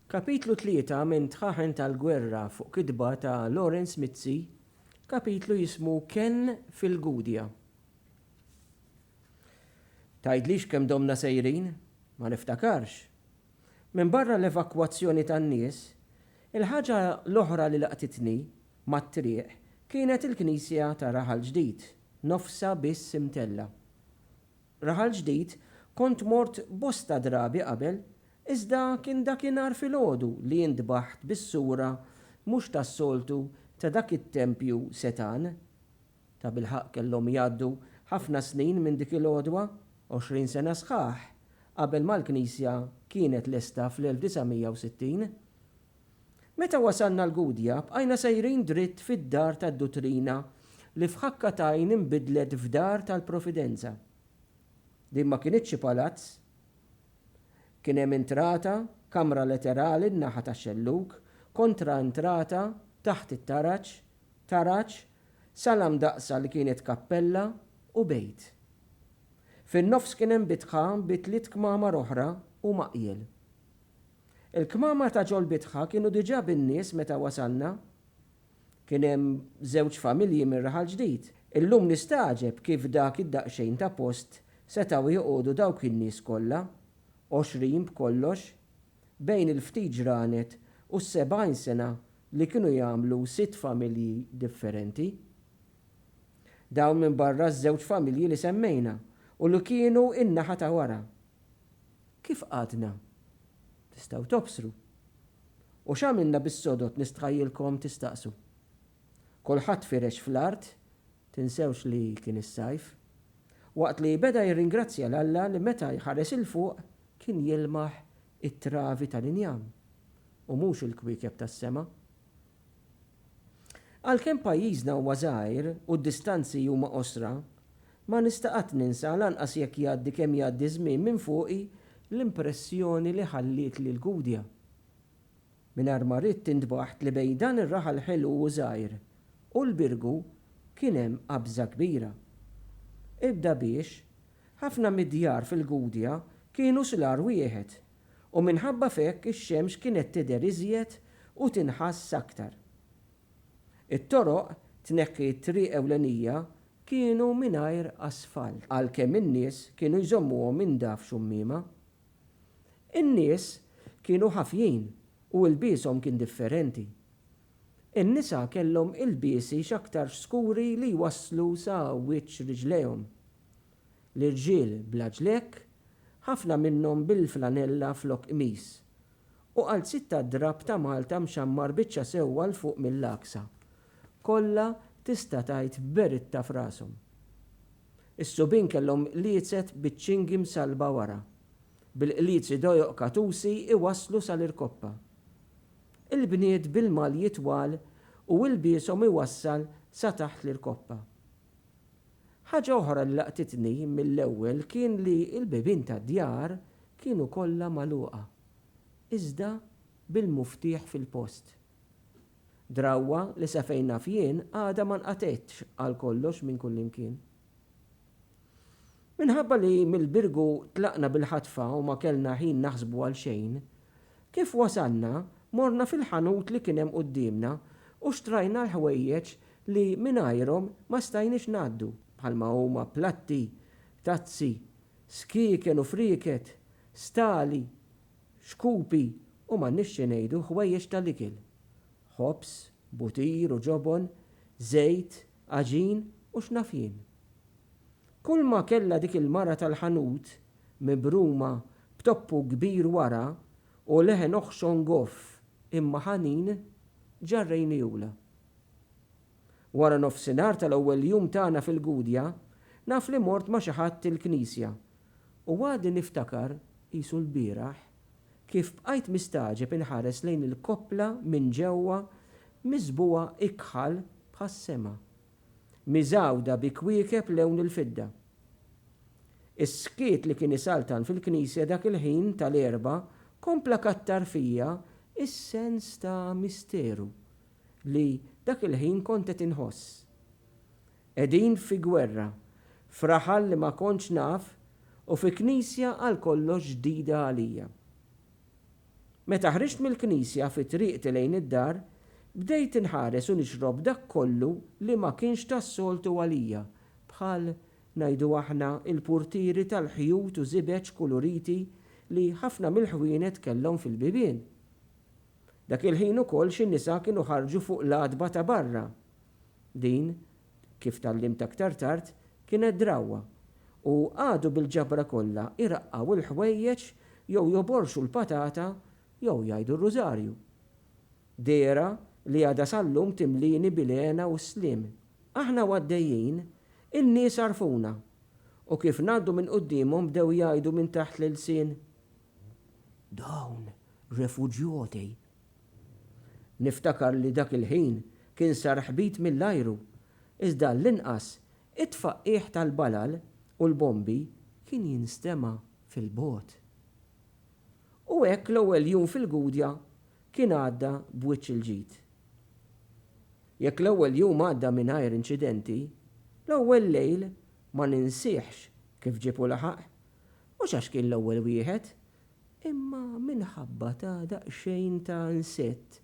Kapitlu tlieta minn Tħaħen tal-Gwerra fuq kitba ta' Lawrence Mizzi, kapitlu jismu Kenn fil-Gudja. Tgħidlix kemm domna sejrin? Ma niftakarx. Minbarra l-evakwazzjoni tan-nies, il-ħaġa l-oħra li laqtitni mat-triq kienet il-knisja ta' Raħal Ġdid, nofsha biss imtellgħa. Raħal Ġdid, kont mort bosta drabi qabel, iżda kien dakinhar filgħodu li intbaħt bis-sura mhux tas-soltu ta' dak it-tempju setgħan. Tabilħaqq kellhom jgħaddu ħafna snin minn dik il-għodwa, għoxrin sena sħaħ qabel ma l-knisja kienet lesta fl-1960. Meta wasalna l-Gudja, bqajna sejrin dritt fid-Dar tad-Duttrina li f'ħakka t'għajn inbidlet f'Dar tal-Providenza. Din ma kinitx xi palazz. Kien hemm intrata, kamra leterali n-naħa tax-xellug, kontra intrata, taħt it-taraġ, taraġ, sala mdaqqsa li kienet kappella, u bejt. Fin-nofs kien hemm bitħa bi tliet kmamar oħra u maqjel. Il-kmamar ta' Ġolbitħa kienu diġà bin-nies meta wasalna. Kien hemm żewġ familji mir-Raħal Ġdid. Illum nistagħġeb kif dak id-daqsxejn ta' post setgħu joqogħdu dawk in-nies kollha, għoxrin b'kollox, bejn il-ftit ġranet u s-sebgħin sena li kienu jagħmlu sitt familji differenti. Dawn minbarra ż-żewġ familji li semmejna u li kienu n-naħa ta' wara. Kif qagħdna? Tistgħu tobsru. U x'għamilna bis-sodod nistħajjilkom tistaqsu. Kulħadd firex fl-art, tinsewx li kien is-sajf. Waqt li beda jirringrazzja 'l Alla li meta jħares 'il fuq kien jilmaħ it-travi tal-injam u mhux il-kwiekeb tas-sema. Għalkemm pajjiżna huwa żgħir u d-distanzi huma qosra, ma nista' qatt ninsa, lanqas jekk jgħaddi kemm jgħaddi ż-żmien minn fuqi, l-impressjoni li ħallietli l-Gudja. Mingħajr ma ridt intbaħt li bejn dan ir-raħal ħelu u żgħir u l-Birgu kien hemm qabża kbira. Ibda biex, ħafna mid-djar fil-Gudja kienu slar wieħed u minħabba f'hekk ix-xemx kienet tidher iżjed u tinħass aktar. It-toroq tneħħi t-triq ewlenija kienu mingħajr asfalt għalkemm in-nies kienu jżommuhom inda f'xummiema. In-nies kienu ħafjin u ilbieshom kien differenti. In-nisa kellhom ilbiesi x'aktarx skuri li jwasslu sa wiċċ riġlejhom. l-irġiel bla ġlekk, ħafna minnhom bil-flanella flok qmis, u għal sitta drapp ta' Malta mxammar biċċa sewwa 'l fuq mill-għaksa, kollha tista' tgħid b'beritta f'rashom. Is-subien kellhom qliezet biċ-ċingi msallba wara, bil-qliezi dojoq katusi iwasslu sal-irkoppa. Il-bniet bil-malji twal u ilbieshom iwassal sa taħt l-irkoppa. Ħaġa oħra li laqtitni mill-ewwel kien li l-bibien tad-djar kienu kollha magħluqa, iżda bil-muftieħ fil-post. Drawwa li sa fejn naf jien għadha ma nqatgħetx għal kollox minn kullimkien. Minħabba li mill-Birgu tlaqna bil-ħatfa u ma kellna ħin naħsbu għal xejn, Kif wasalna, morna fil-ħanut li kien hemm quddiemna u xtrajna l-ħwejjeġ li mingħajrhom ma stajniex ngħaddu, bħalma huma platti, tazzi, skieken u frieket, stali, xkupi u m'għandniex xi ngħidu ħwejjeġ tal-ikel, ħobż, butir u ġobon, żejt, għaġin u x'naf jien. Kulma kellha dik il-mara tal-ħanut, mibruma b'toppu kbir wara u leħen oħxon goff imma ħanin, ġarrejniehulha. Waranofsinhar tal-ewwel jum tagħna fil-Gudja, naf li mort ma' xi ħadd il-knisja u għadi niftakar, qisu lbieraħ, kif bqajt mistagħġeb inħares lejn il-koppla minn ġewwa miżbugħa ikħal bħas-sema. miżgħuda bi kwiekeb lewn il-fidda. Is-skiet li kien isaltan fil-knisja dak il-ħin tal-Erbgħa kompla kattar fija s-sens ta' misteru li dak il-ħin kont qed inħoss. Qegħdin fi gwerra, f'raħal li ma kontx naf u fi knisja għal kollox ġdida għalija. Meta ħriġt mill-knisja fi triqti lejn id-dar, bdejt inħares u nixrob dak kollu li ma kienx tas-soltu għalija, bħal, ngħidu aħna, il-purtieri tal-ħjut u żibeġ kuluriti li ħafna mill-ħwienet kellhom fil-bibien. Dak il-ħin ukoll xi nisa kienu ħarġu fuq l-għatba ta' barra. Din kif tgħallimt aktar tard, kienet drawwa, u qagħdu bil-ġabra kollha jraqqgħu l-ħwejjeġ jew joborxu l-patata jew jgħidu r-rużarju. Dehra li għadha sal-lum timlieni bil-hena u s-sliem. Aħna u għaddejjin, in-nies għarfuna, u kif ngħaddu minn quddiemhom bdew jgħidu minn taħt l-ilsien, Dawn refuġjoti! Niftakar li dak il-ħin kien sar ħbit mill-ajru, iżda għall-inqas it-tfaqqigħ tal-balal u l-bombi kien jinstema' fil-bogħod. U hekk l-ewwel jum fil-Gudja kien għadda b'wiċċ il-ġid. Jekk l-ewwel jum għadda mingħajr inċidenti, l-ewwel lejl ma ninsihx kif ġieb u laħaq, mhux għax kien l-ewwel wieħed, Imma minħabba ta' daqsxejn ta' nsett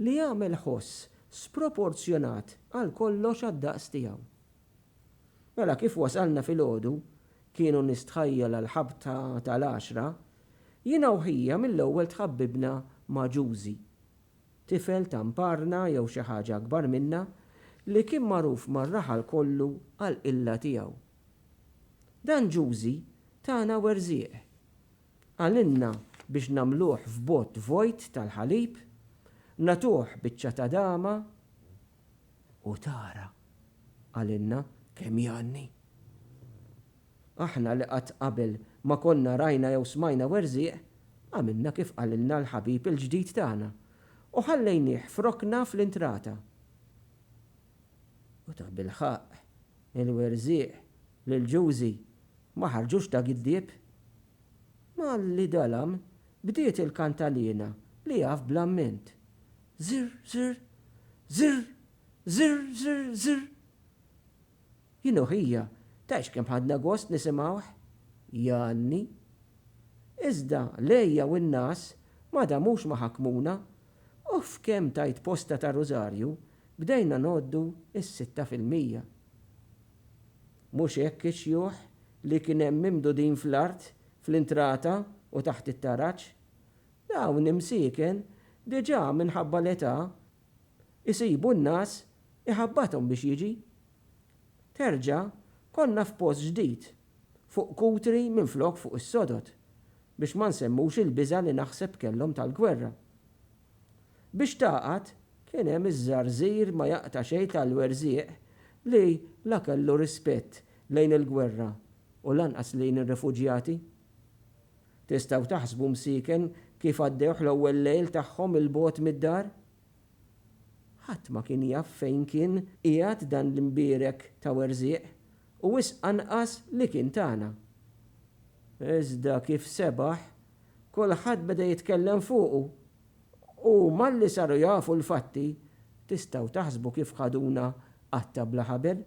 li għamel ħoss sproporzjonat għal kollox għad-daqs tiegħu. Mela kif wasalna filgħodu, kienu nistħajjel għall-ħabta tal-għaxra, jiena u ħija mill-ewwel tħabbibna ma' Ġużi, tifel ta' mparna jew xi ħaġa akbar minna li kien magħruf mar-raħal kollu għall-qilla tiegħu. Dan Ġużi tana werżieq. Qalilna biex nagħmluh f'bott vojt tal-ħalib, nagħtuh biċċa ta' dama, u tara, qalilna, kemm jgħanni. Aħna li qatt qabel ma konna rajna jew smajna werżieq, għamilna kif qalilna l-ħabib il-ġdid tagħna, u ħallejnieh f'rokna fl-intrata. U tabilħaqq Il-werżieq reliġjużi ma ħarġux ta' giddieb. Malli dalam, bdiet il-kantaliena li jaf bl-amment, Zirr, zirr, zirr, zirr, zirr, zirr. Jien u ħija, tgħidx kemm ħadna gost nisimgħuh, Janni. Iżda l-għeja u n-ngħas ma damux ma ħakmuna. Off kemm tajt posta ta' rużarju bdejna ngħoddu s-sitta fil-mija. Mhux hekk ix-xjuħ li kien hemm mimdudin fl-art fl-intrata u taħt it-taraġ? Dawn imsieken diġà minħabba l-età jsibu n-ngħas iħabbathom biex jiġi. Terġa' konna f'post ġdid fuq Kutri minflok fuq is-sodod, biex ma nsemmux il-biża' li naħseb kellhom tal-gwerra. Biex tagħqad, kien hemm iż-żarżir ma jaqta' xejn tal-werżieq li la kellu rispett lejn il-gwerra u lanqas lejn ir-refuġjati. Tistgħu taħsbu msieken kif għaddewh l-ewwel lejl tagħhom 'il bogħod mid-dar? Ħadd ma kien jaf fejn kien qiegħed dan l-imbierek ta' werżieq, u wisq anqas li kien tagħna. Iżda kif sebaħ, kulħadd beda jitkellem fuqu. Huma li saru jafu l-fatti, tistgħu taħsbu kif ħaduna qatta' bla ħabel.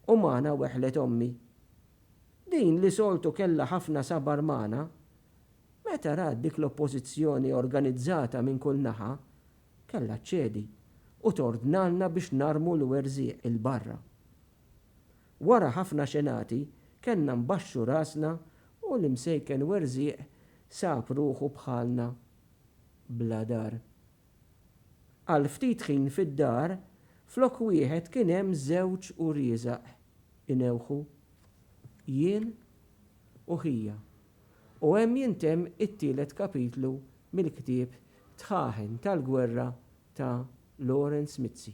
U magħna weħlet ommi. Din li soltu kellha ħafna sabar magħna, Meta rat dik l-oppożizzjoni organizzata minn kull naħa, kellha ċċedi u tordnalna biex narmu l-werżieq 'il barra. Wara ħafna xenati kellna nbaxxu rasna u l-imsejken werżieq sab ruħu bħalna bla dar. Għal ftit ħin fid-dar flok wieħed kien hemm żewġ uriezaq inewħu, jien u ħija. u hemm jintemm it-tielet kapitlu mill-ktieb Tħaħen tal-Gwerra ta' Lawrence Mizzi.